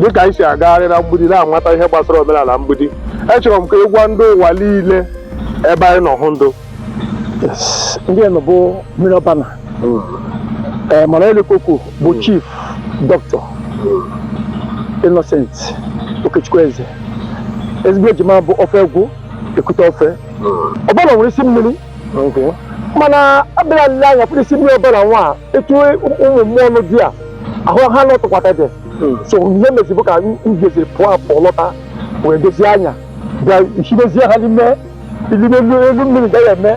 dị ka anyị si agagharị na mgbidi na-amata ihe gbasara omenala mgbidi echọrọ m ka ị gwa ndị ụwa niile ebe anyị nọ hụ ndụ nga anyị nọ bụ mmiri ọbana mana onye la-ekwu okwu bụ chief doctor Innocent Okechukwu Eze ezigbo ejima bụ ofe egwu ekute ofe ọbana nwere isi mmiri mana abịara nle anya pụrụ isi mmiri ọbana nwa etu ụmụ mmụọ ọnụ di a ahụ ha lọtụkwata dị hmm. so ihe mezibụ ka ngezi pụọ apụ lọta wee dozie anya bịa hibezie ha n'ime elu mmiri gaghị eme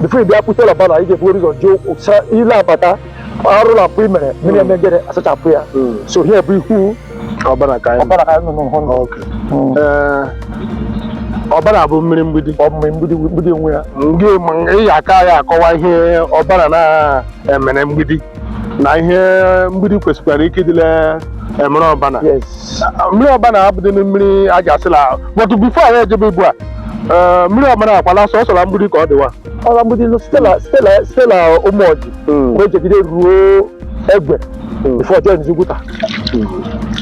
before ị bịa pụta la ọbana ị ga-ebu ụzọ jụụ ile abata arụ na mpụ i mere mmiri hmm. emegere asachapụ ya hmm. so ihe bụ ihu ọbana ka anyị nọ n'ụhụ hmm. eh, ọbana bụ mmiri mgbidi mmiri mgbidi mgbidi onwe ya ndị ịya aka ya akọwa ihe ọbana na-emere mgbidi na ihe mgbidi kwesịkwara ike ịdị la-emere ọbana mmiri ọbana abụdị na mmiri a ga-asị la but before anyị ejebe ugbu a eh, mmiri ọbana akwala sọsọ la mgbidi ka ọ dịwa ọla mgbidi nụ site la ụmụọjị Mm. wee jegide ruo egwe Mm. before joinzie uguta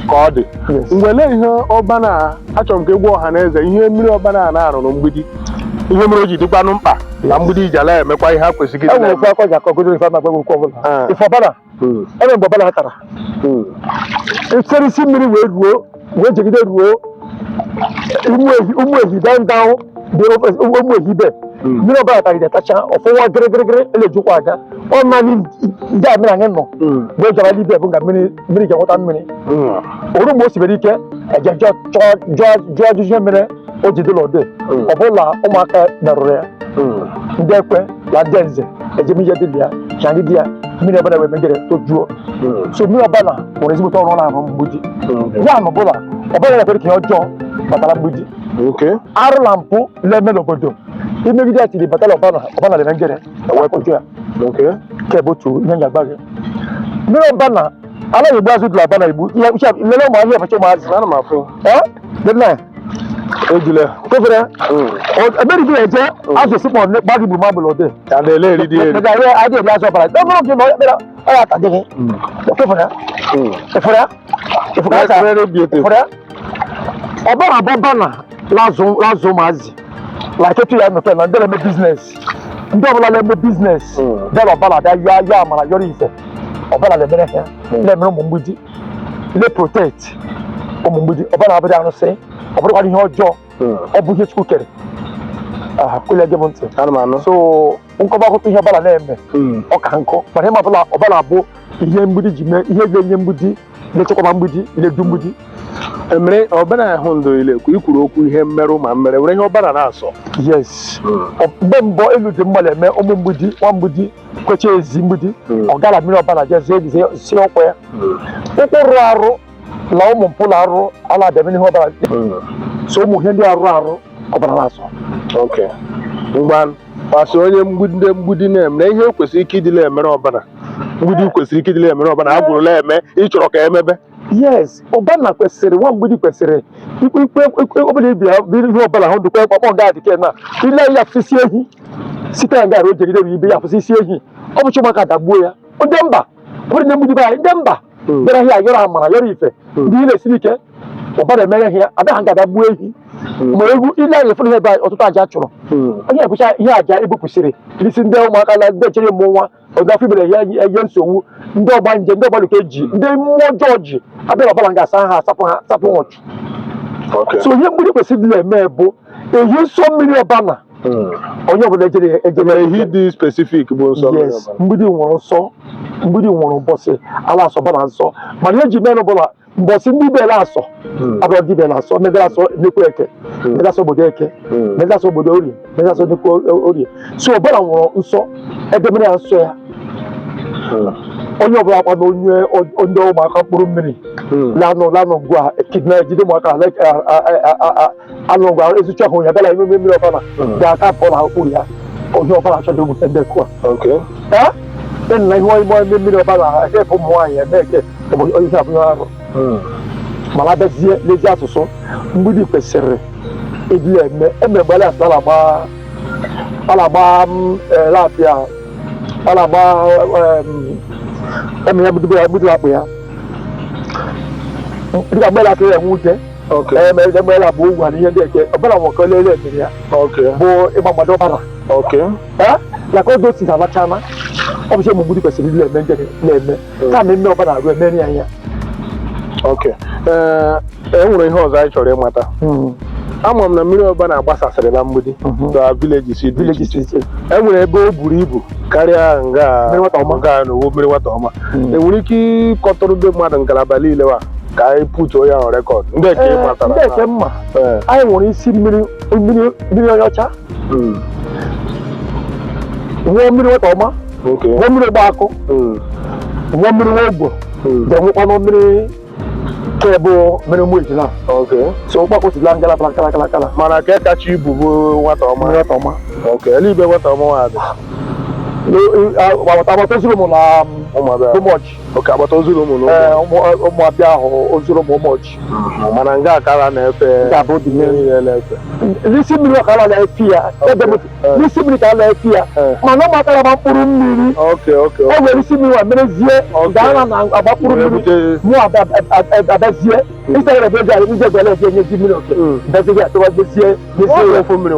ka ọ dị Yes. ngwa lee ihe ọbana achọrọ m ka ị gwa ọha na eze ihe mmiri ọbana na-arụ na mgbidi ihe mere o ji dịkwanụ mkpa na mgbidi ịja la-emekwa ihe ha kwesịrị e nwere ofe akọ ji akọ godo ife ama gbe okwu ọbana Ah. ife ọbana hmm. ebe mgbe ọbana tara echere isi mmiri wee ruo wee jegide ruo ụmụehi daa ndanwụ dị ụmụehi be mmiri ọbana tagide tacha ọfụwa gịrịgịrịgịrị elejikwa aga ọ naanị nga mmiri anyị nọ wee jọrọ ibe bụ nga mmiri ji enweta mmiri o ru mgbe o sibere ike e je jụọ ajụjụ ihe mere o ji dịla ode ọ bụ la ụmụaka merụrụ ya ndị ekwe na ndị nze eje mee ihe dị na ya ka anyị di ya mmiri ọbana wee megere tojuo so mmiri ọbana nwere ezigbote ọrụ ọ na-arụ mgbidi ya na ọ bụ la ọbana na-ekwere ka ihe ọjọọ batara mgbidi Okay. arụ na mpụ na-eme n'obodo i megide ya tiri batara ọbana ọbana la-emegere ewepụta ya Okay. nke bụ otu ihe m ga-agwa gị mmiri ọbana a naghị egbu azụ dị la ọbana igbu ihe uche lele ụmụ ihe a bụcha ụmụ azụ Ana m afụ. ee lele ejule kofere ebere bi eje azụ sipọ ne gbagi bu ma bolo de ta de le ri di eri ga ye ade bi aso para to mo ki mo bera ara ta de kofere kofere kofere ta re bi ete kofere ọbana bụ ọbana la azụ la ụmụ azụ like etu ya mepe na ndị na-eme business ndị ọbụla na-eme business bịara ọbana bịa ya ya amara yọrọ ife ọbana na-emere ha na-emere ụmụ mgbidi na-protect ụmụ mgbidi Obana abụdị arụsị ọ bụrụkwa ihe ọjọọ hmm. ọ bụ ihe Chukwu kere kwele gị m ntị so m kọba akụkọ ihe Obana na-eme hmm. ọ ka nkọ mana ịma ọbụla Obana bụ ihe mgbidi ji mee ihe ga-enye mgbidi na-echekwaba mgbidi na-edu mgbidi emere Obana ahụ ndụ ile ka i kwuru okwu ihe mmerụ ma mmere were ihe Obana na-asọ yes hmm. mgbe mbọ elu dị mmadụ eme ụmụ mgbidi nwa mgbidi kwecha ezi mgbidi hmm. ọ gara mmiri Obana jezie ebizie si ọkwa ya hmm. ụkwụ rụrụ arụ na ụmụ mpụ na arụ ala abịa mmiri Obana hmm. so ụmụ ihe ndị arụ arụ Obana na-asọ gbasa onye ndị mgbidi na-eme na ihe kwesịrị ike ịdị la-emere Obana mgbidi kwesịrị ike ịdị la-emere Obana a gwụrụla eme ị chọrọ ka emebe yes Obana kwesịrị nwa mgbidi kwesịrị ikpe ikpe ikpe ọbụla ibi ya biri ihe ọbụla hụ dịkwa ọkpọ nga adịke na ile ya fụsisi ehi site na gara o jegide bụ ibe ya fụsisi ehi ọ bụ chụmaka dagbuo ya ndị mba bụrụ ndị mgbidi be anyị ndị mba Mm. bịara ihe a yọrọ amara yọrọ ife Mm. ndị ile siri ike Obana emere ihe ya adaghị nga dagbuo ehi ma egwu ile anyị fụrụ ihe ebe anyị ọtụtụ aja chụrụ Mm. onye bụcha ihe aja ebupụsịrị isi ndị ụmụaka na ndị chere mmụọ nwa ọdafọ ibere ya enye nsogbu ndị ọgbanje ndị ọgba luke ji ndị mmụọ ọjọọ ji abịa Obana ga-asa ha asapụ ha asapụ ha ọchụ Okay. so ihe mgbidi kwesịrị na-eme bụ ehi nsọ mmiri Obana Mm. onye ọbụla ejere ejere Mana ehi dị specific bụ nsọ mmiri yes Obana. mgbidi nworo nsọ mgbidi nworo mbọsị a la-asọ Obana nsọ mana ihe ji mere bụla mbọsị ndị bela asọ hmm. abụọ ndị bela asọ ndị bela asọ nnekwu eke hmm. ndị asọ obodo eke hmm. ndị asọ obodo orie ndị asọ nnekwu orie so Obana nworo nsọ edemere ya nsọ ya onye ọbụla kwa na onye ndị ụmụaka mkpụrụ mmiri lanụ lanụ ngwa kidna ejide ụmụaka anụ ọgwa ezucha ahụ ya bịala ime mmiri Obana ga-aka pụọ na okpuru ya onye Obana achọghị ogbute ndị kụa e nna ihe ọyịmọ ime mmiri Obana ekepụ ụmụ nwaanyị eme eke onye isi abụghị arụ mana abịazie n'ezi asụsụ mgbidi kwesịrị ịdị ya eme eme mgbe a la-asụ a la-agba a la-agba lapịa alagba eme ya mgbidi akpụ ya dịka mgbe ala aka ya enwe ute Okay. Em- em- emeela bụ ugwu na ihe ndị eke Obana nwoke olele emere ya Okay. bụ ịgba mgbada Obana Okay. Eh? ya ka oge o si na alachana ọ bụ ihe ụmụ mgbidi kwesịrị ịdị eme njere na-eme ka na eme Obana arụ emere ya ihe Okay. Ee, e nwere ihe ọzọ anyị chọrọ ịmata. Ama m na mmiri Obana gbasasịrị na mgbidi. Mhm. The villages dị iche iche. E nwere ebe o buru ibu karịa nga Mmiri nwata ọma. nga a n'owu mmiri nwata ọma Mm. i nwere ike ịkọtụrụ ndị mmadụ ngalaba niile wa ka anyị putuo ya na record ndị ka ị matara ndị eke mma Ee, anyị nwere isi mmiri mmiri mmiri onye ọcha mm, nwee mmiri nwata ọma okay, nwee mmiri ogbe akụ mm, nwee mmiri nwa ogbo mm. ga-enwekwanụ mmiri bụ mmiri ụmụ ejila so ụkpakpụ sila ngala bara kala kala kala mana ka kacha ibu bụ nwata ọma nwata ọma eluigwe nwata ọma nwa adị agbata agbata Uzinaumu na Ụmụọjị okay agbata Uzinaumu na Ụmụabịahụ Uzinaumu Ụmụọjị mana nga a kara na-efe ga-abụ dị n'efe n'isi mmiri a kara na-efe ya ebe mụtụ eh. n'isi mmiri ka a na-efe ya eh. mana ọ matara ma mkpụrụ mmiri e nwere isi mmiri wa merezie gaa na agba mkpụrụ mmiri mụ abịazie isere ebe eji arị ije Ugbele eji enye ji mmiri oke hmm. bezighị atụwa jezie ọ bụ ofu mmiri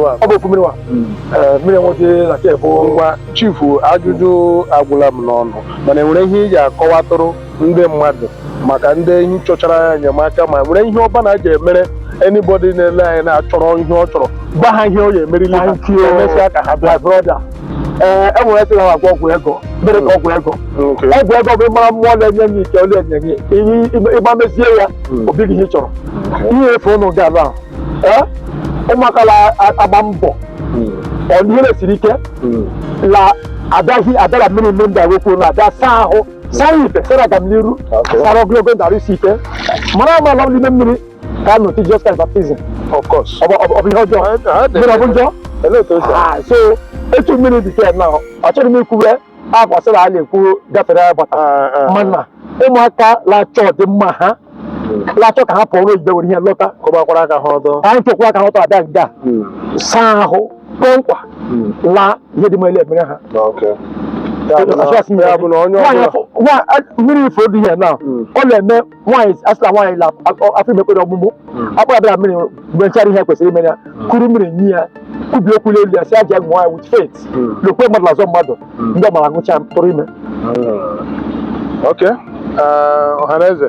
wa hmm. eh, mmiri nwoke na ke bụ ngwa chifu ajụjụ agwụla m n'ọnụ mana enwere ihe ị ja-akọwatụrụ ndị mmadụ maka ndị ehi chọchara enyemaka ma nwere ihe Ọbana ja-emere anybody na-ele anyị na-achọrọ ihe ọ chọrọ gwa ha ihe ọ ya emerili ha Thank you. emesịa ka ha bịa My brother. Ee, e nwere sịrị ha agwọ ọgwụ ego mere ka ọgwụ ego Okay. ọgwụ ego bụ ịmara mmụọ na-enye gị ike ole enye gị ihe ịgba mezie ya obi gị ihe ị chọrọ ihe efe ụnụ ga ala ee ụmụaka la agba mbọ ọ ihe na-esiri ike la adaghị adara mmiri mmiri ndị agwekwu na abịa saa ahụ sara ihe sara agamniru sara ogologo ndụ arụ isi ike mara ama ala n'ime mmiri ka a nọtụ just kind baptism ọ bụ ihe ọjọọ mmiri ọ bụ njọ ah, so etu mmiri dị ke na ọ chọrọ m ikwube akwasịrị a na-ekwu gafere agbata ah, ah. mana ụmụaka na-achọ ọdịmma ha na-achọ ka ha pụọ n'oyibo were ihe lọta kụbakwara aka ha ọdọ ka anyị chekwa aka ha ọtọ abịa nga saa ahụ kpọọ nkwa laa ihe dị mele emere ha mmiri ifo dị ihe na ọ na-eme nwaanyị a sị la nwaanyị afọ ime kwere ọmụmụ akpara bịara mmiri mgbe m mechara ihe kwesịrị ime ya kuru mmiri nye ya kwubi okwu n'elu ya sị ya ṅụọ ya with faith hmm. lokwe mmadụ azọ mmadụ hmm. ndị ọ mara ṅụcha tụrụ ime hmm. ok uh, ọhaneze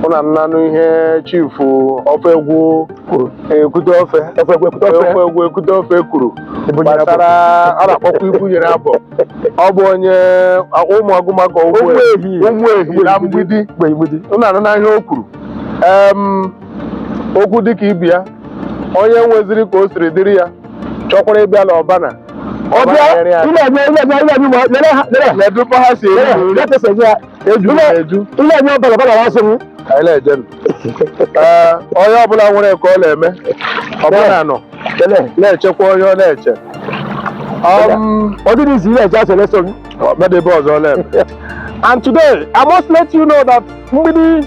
ụna anụna ihe chifu ofe egwu kwuru ekwute ofe ofe egwu ekwute ofe kwuru gbasara a na-akpọkwa ibu nyere abụọ ọ bụ onye Ụmụagụmagụ Ụmụehi na Mgbidi ụna anụna ihe o kwuru okwu dịka ibi ya onye nweziri ka o siri dịrị ya chọkwara ịbịa n'Obana ledụkwa ha si eru nri eju na eju anyị na-ejenụ Ee, onye ọbụla nwere ka ọ na-eme Obana nọ na-echekwa onye ọ na-eche Um, Medebe ọzọ lem. And today, I must let you know that mgbidi